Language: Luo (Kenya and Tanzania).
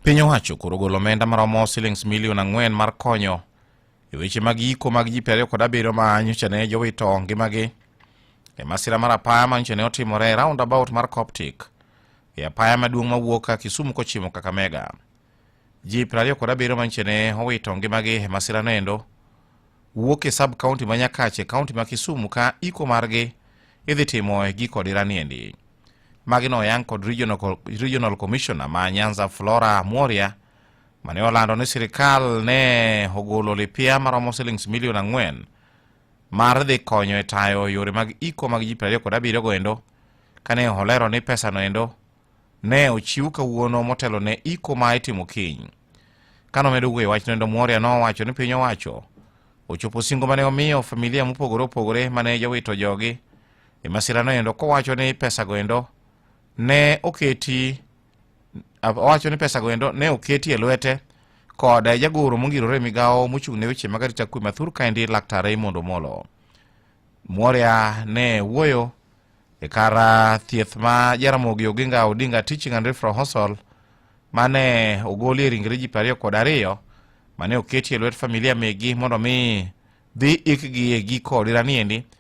Piny owacho koro golo omenda maromo silings milion ang'wen mar konyo e weche mag yiko mag ji piero ariyo kod abiriyo ma nyocha ne jowito ngimagi e masira mar apaya ma nyocha ne otimore e roundabout mar Coptic e apaya maduong' mawuok ka Kisumu kochimo Kakamega. Ji piero ariyo kod abiriyo ma nyocha ne owito ngimagi e masirano endo wuok e sub kaunti ma Nyakache, kaunti ma Kisumu ka iko margi idhi timo e giko dirani endi. Magi noyang kod regional, regional commissioner ma Nyanza Flora Mworia mane olando ni sirikal ne ogolo lipia maromo silings milion ang'wen mar dhi konyo e tayo yore mag iko mag ji 27 kod abiriyo goendo kane olero ni pesa noendo ne ochiw kawuono motelo ne iko ma itimo kiny kano medo wuoyo wach noendo mworia nowacho ni piny owacho ochopo singo mane omiyo familia mopogore opogore mane jowito jogi e masirano endo kowacho ni pesago endo ne oketi owacho ni pesago endo ne oketi e lwete kod jagoro mongirore migawo mochung' ne weche mag arita kwe mathur kaendi laktar Raymond Omolo. Mworia ne wuoyo e kar ah, thieth ma Jaramogi Oginga Odinga Teaching and Referral Hospital mane ogolie ringre ji ariyo kod ariyo mane oketi e lwet familia megi mondo mi dhi ikgi e giko odira niendi